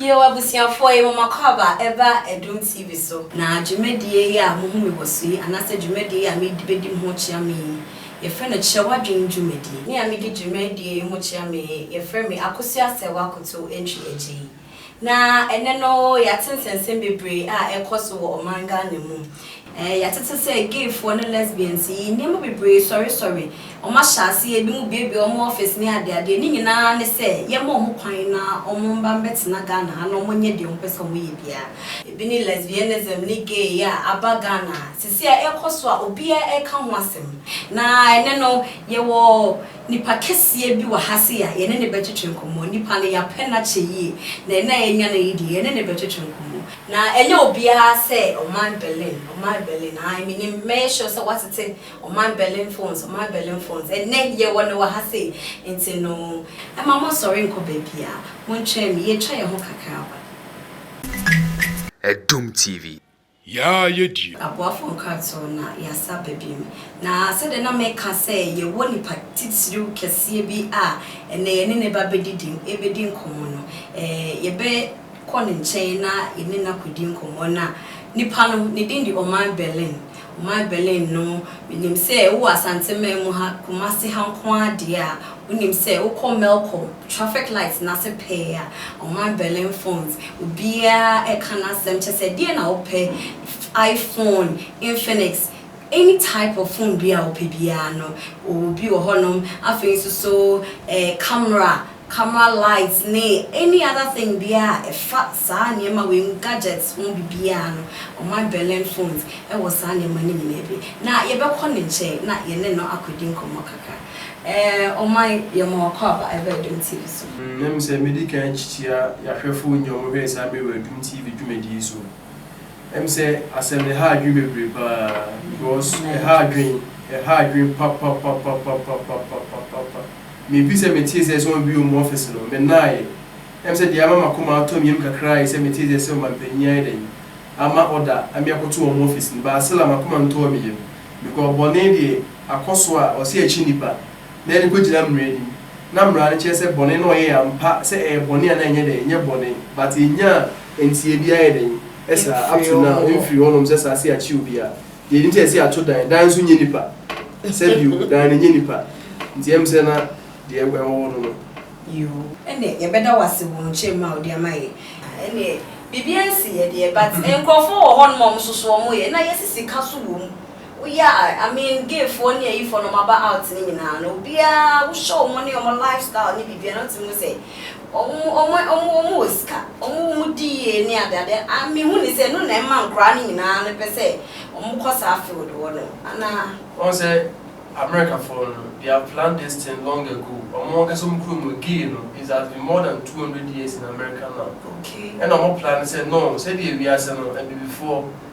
Yɛwɔ abusuafoɔ yi moma kɔ aba ɛba Adum TV so. Na dwumadie yi a mohu me wɔ so yi anaasɛ dwumadie yi a mede bɛdi mo ho kyea me yi yɛfrɛ no Kyerɛ W'adwene dwumadie. Me a medi dwumadie yi ho kyea me yi yɛfrɛ me Akosua Asɛwa Koto Antwi Agyei. Na ɛnɛ no yɛate nsɛnsɛm bebree a ɛrekɔ so wɔ ɔman Ghana mu. Ɛɛ, yɛatete sɛ gayfoɔ ne lesbians yi, nneɛma bebree sɔresɔre, wɔahyɛ aseɛ, binom buebue wɔn office ne adeadeɛ, ne nyina ara ne sɛ yɛmma wɔn kwan na wɔmba mbɛtena Ghana ha na wɔnyɛ deɛ wɔpɛ sɛ wɔyɛ biara. Ebi ne lesbianism ne gay a aba Ghana sesei a ɛrekɔ so a obiara reka ho asɛm. Na ɛnnɛ no, yɛwɔ nipa kɛseɛ bi wɔ ha sei a yɛne no bɛtwetwe nkɔmmɔ. Nipa no, yɛapɛ no akyɛ yie, na ɛnnɛ a yɛanya no yi deɛ, yɛne no bɛtwetwe nkɔmmɔ. Na ɛnyɛ obiara sɛ ɔman Berlin, ɔman Berlin, ae, menim, mɛyɛ sure sɛ woatete ɔman Berlin phones, ɔman Berlin phones, ɛnnɛ yɛwɔ no wɔ ha sei, nti no, mma monnsɔre nnkɔ baabiara, montwɛn me, yɛatwa yɛn ho kakra aba. Adum TV. Yaa yɛ die. Aboafoɔ nkratoɔ na yasa ba bio. Na sɛdeɛ na meka sɛ yɛwɔ nipa titiriw kɛseɛ bi a ɛnnɛ yɛne no bɛba abɛdidi, ɛbɛdi nkɔmmɔ no, ɛɛ yɛbɛ. kɔ ne nkyɛn na yɛne no akɔdi nkɔmmɔ no a, nipa no, ne din de Ɔman Berlin. Ɔman Berlin no, menim sɛ wowɔ Asanteman mu ha, Kumasi ha nko ara deɛ a, wonim sɛ wokɔ Melcom, traffic light no ase pɛɛ a, Ɔman Berlin phones, obiara reka n'asɛm, kyerɛ sɛ deɛn na wopɛ, iPhone, Infinix, any type of phone biara a wopɛ biara no, wɔwɔ bi wɔ hɔnom. Afei nso so, camera camera light ne any other thing biara a ɛfa saa nneɛma wei mu gadgets ho biribiara no, ɔma Berlin phones wɔ saa nneɛma no nyinaa bi. Na yɛbɛkɔ ne nkyɛn na yɛne no akɔdi nkɔmmɔ kakra. Ɛɛ Ɔman, yɛma wakɔ aba ɛba Adum TV so. Na me sɛ mɛdi kan akyikyia yɛahwɛfoɔ nyina ɔmo hwɛɛ saa mmerɛ wɔ Adum TV dwumadie yi so. Na me sɛ asɛm no ɛha adwene bebree paa because ɛha adwene, ɛha adwene papapapapapapapapapa. Mefii sɛ metee sɛ ɛsɛ wɔbue wɔn ɔfese no, mennaeɛ. Ɛm sɛ deɛ ama m'akoma atɔ me yam kakra ara ye sɛ metee sɛ ɛsɛ ɔmanpanin ayɛ dɛn ama ɔda ame akɔto wɔn ɔfese no. Baasela, m'akoma ntɔɔ me yam. Because bɔne deɛ akɔ so a, ɔse akyi nnipa, na yɛde kɔgyina mmara anim. Na mmara no kyerɛ sɛ bɔne no a ɔyɛɛ ampa sɛ ɛyɛ bɔne anaa ɛnyɛ dɛn, ɛnyɛ bɔne. But ɛnyaa nteɛ biara yɛ dɛn, ɛsaa, up to now, ɛmfirii hɔnom sɛ saa se akye obiara. Deɛ nti a ɛsɛ yɛato dan, dan nso nyɛ nipa. Sɛ bio, dan no nyɛ nipa. Nti ɛm sɛ na deɛ ɛwɔ hɔ no no. Yoo, ɛnneɛ yɛbɛda wo ase wɔ nkyerɛmu a wode ama yɛn. Ɛnneɛ biribiara nsi yɛn deɛ but nkurɔfoɔ wɔ hɔnom a wɔn nso so wɔn yɛ na yɛsi sika so wɔ mu. Wo yɛ a, I mean gayfoɔ ne ayifoɔ na wɔn aba out no nyinaa no obiara wo hyɛ wɔn ne wɔn lifestyle ne biribiara na wotumi hu sɛ. Wɔn wɔ sika, wɔn di yie ne ade ade a me hu ne sɛ ɛno na ɛma nkoraa no nyinaa no pɛ sɛ wɔn kɔ saa field hɔ no anaa. Wɔn sɛ America foɔ no they have planned this thing long ago wɔn ankasa wɔn kuro mu gay no is has been more than two hundred years in America now ɛna wɔn planned sɛ no sɛdeɛ wiase no abibifoɔ.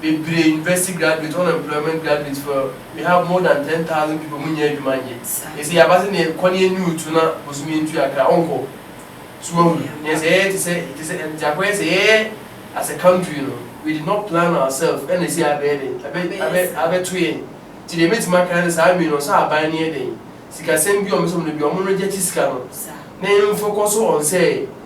Bebree, university graduate, unemployment graduate for we have more than ten thousand people ɔmo nnya adwuma nyɛ. Ɛsɛ yaba sɛ neɛ kɔ ne ɛni otu na bosome ntu akra ɔnkɔ. So wahu neɛ sɛ yɛyɛ te sɛ te sɛ deɛ akɔyɛ sɛ yɛyɛ as a country no we did not plan ourselves ɛna ɛsei abɛyɛ dɛn abɛ abɛ abɛto yɛn nti deɛ mɛtumi aka ara ne saa wei no sɛ aban no yɛ dɛn sikasɛm bi ɔmo sɛ ɔmo no bi ɔmo rejɛkye sika no na yɛnfocus on sɛ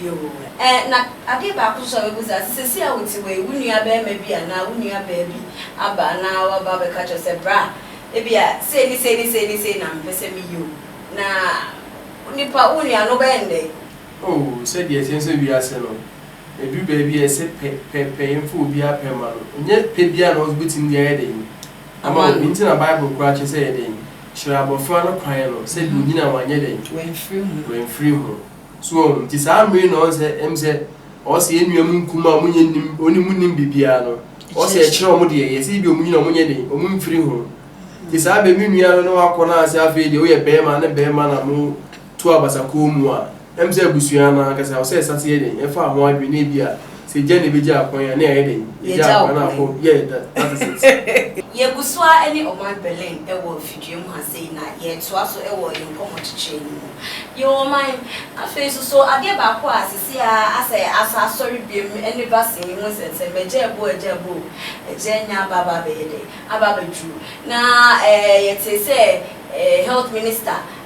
Yoo ɛ, na adeɛ baako nso a wobɛbu saa, sɛ seesei a wote hɔ yi, wo nuabarima bi anaa wo nuabaa bi aba na waba abɛka akyerɛ wo sɛ, Bra, ebia sei ne sei ne sei ne sei na mepɛ sɛ meyɛ o, na nipa, wo nua no, wobɛyɛ no dɛn? Oo, sɛdeɛ ɛteɛ nso wiase no, ɛduru baabi a ɛse pɛ, pɛ, pɛ, yɛmfa obiara pɛ mma no. Ɛnyɛ pɛ biara na wobɛtumi de ayɛ dɛn? Ama wo. Enti na Bible koraa kyerɛ sɛ yɛ dɛn? Kyerɛ abɔfra no kwan no, sɛdeɛ ɔnyini a wanyɛ dɛn? Wamfiri ho. Wamfiri ho. So wahu? Nti saa mmere yi na ɔn sɛ em sɛ ɔn sɛ yɛn nua mu nkum a ɔmo nyɛ nnim ɔne mu nnim bibiaa no ɔn sɛ yɛkyerɛ ɔmo deɛ yɛ sɛ ebia ɔmo nyina ɔmo nyɛ den ɔmo mfiri ho nti saa bɛ me nua no na wakɔ na sɛ afei deɛ woyɛ bɛɛma ne bɛɛma na mo to abasa kɔn mu a em sɛ abusua no ankasa ɔsɛ ɛsate yɛ den ɛfa ho adwene na ebia Sɛ egya na ebegya akwan a, na yɛayɛ dɛn? Yɛagya akwan a kɔ, yeah, that, that is it. Yegu so ara ne ɔman Berlin wɔ mfidua mu ha sei na yɛretoa so wɔ yɛn nkɔmmɔkyekyerɛ no mu. Yɛwɔ ɔman. Afei nso, so adeɛ baako a seesei ara asɛ asan asɔre biom ne vaccine yi ho nsɛnsɛm, agya abo o, agya abo o, agya anya aba aba abɛyɛ dɛn? Aba abɛduru. Na eh, yɛtee sɛ eh, health minister,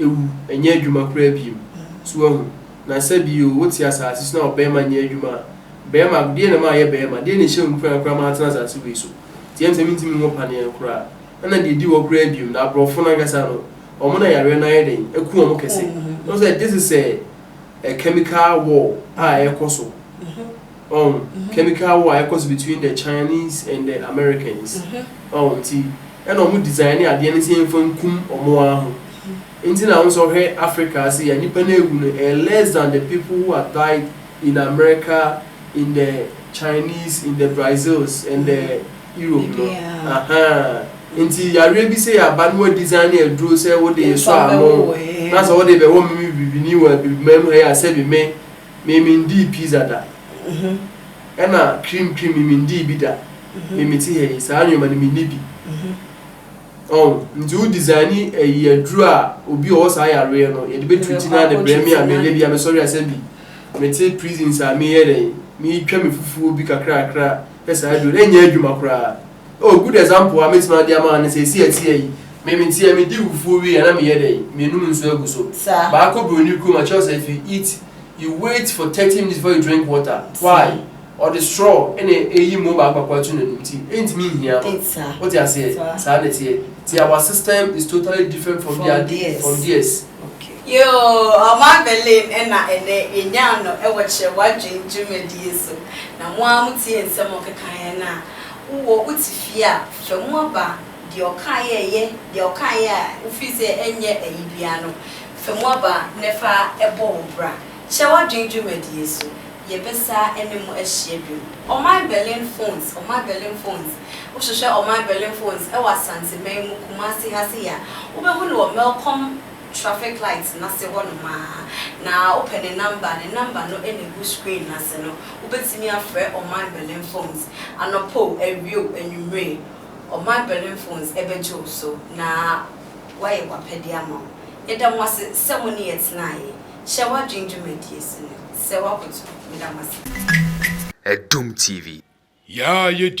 ewu, nnyɛ edwuma koraa bio. So woahu? Na sɛ bi o, wote asaase so na ɔbarima nnyɛ edwuma a, barima, deɛn na mayɛ barima? Deɛn na ehyɛ wo nkuran koraa ma atena asaase wei so? Nti ɛne sɛ mentumi nwo paneɛ no koraa. Ɛna deɛ edi hɔ koraa bio no, aborɔfo no ankasa no, wɔn na yareɛ no ayɛ dɛn? Aku wɔn kɛse. Woahu sɛ this is a chemical war a ɛrekɔ so. Ɔho, chemical war a ɛkɔ so between the Chinese and the Americans. Ɔho, nti ɛna ɔmo design adeɛ no sɛ yɛnfa nkum ɔmo ara ho. Nti na wohu sɛ wohwɛ Africa ha sei a nnipa no a awu no ɛyɛ less than the people who have died in America, in the Chinese, in the Brazils and the Europe no. Ahaa. Nti yareɛ bi sei aba na wɔadesign aduro sɛ wode sɔ ano na sɛ wode bɛwɔ me bibini wɔ abibiman mu ha yi a sɛbi me. Me me ndii pizza da ɛna cream cream me me ndii bi da me me te ha yi saa nnoɔma no me nni bi ɔho nti wo design ɛyi aduro a obi ɔwɔ saa yareɛ no yɛde bɛ treat na de brɛ me a me yɛ bi a me sɔre asɛ bi me te prisons a me yɛ dɛn me twa me fufuo bi kakra kakra sɛ saa aduro no ɛnyɛ adwuma koraa. Oh good example a mɛtumi ade ama wo ne sɛ ɛsi atia yi me me nti a me di fufuo wie a na me yɛ dɛn me nom nsuo agu so baa kɔ broni kurom a kyɛw sɛ if you eat you wait for thirty minutes before you drink water why ɔde straw ɛna ɛyi mo baako baako ato n'anim nti ɛntumi nhia no wote aseɛ saa na ɛteɛ nti our system is totally different from their from theirs. Yoo, Ɔman Berlin na ɛnnɛ yɛnyaa no wɔ Kyerɛ W'adwene dwumadie so. Na mo ara motie nsɛm a ɔkekaeɛ no a, wowɔ wo te fie a, hwɛ mu aba deɛ ɔkaeɛ a ɛyɛ, deɛ ɔkaeɛ a wofili sɛ ɛnyɛ ɛyi biara no, fa mu aba na fa bɔ wo bra. Kyerɛ W'adwene dwumadie so, yɛbɛsa ne mo ahyia bio. Ɔman Berlin Phones, Ɔman Berlin Phones. Wohwehwɛ ɔman Berlin phones wɔ Asanteman mu Kumasi ha sei a, wobɛhu no wɔ Melcom traffic light no ase hɔnom ara, na wopɛ ne number a, ne number no na ɛgu screen no ase no. Wobɛtumi afrɛ ɔman Berlin phones anɔpa o, awia o, anwummere, ɔman Berlin phones bɛgye wo so na wɔayɛ w'apɛdeɛ ama wo. Yɛda mo ase sɛ mo ne yɛ tenaeɛ. Hyɛ w'adwene dwumadie so no sɛ woakoto. Meda mo ase. Adom TV. Yaa yɛ di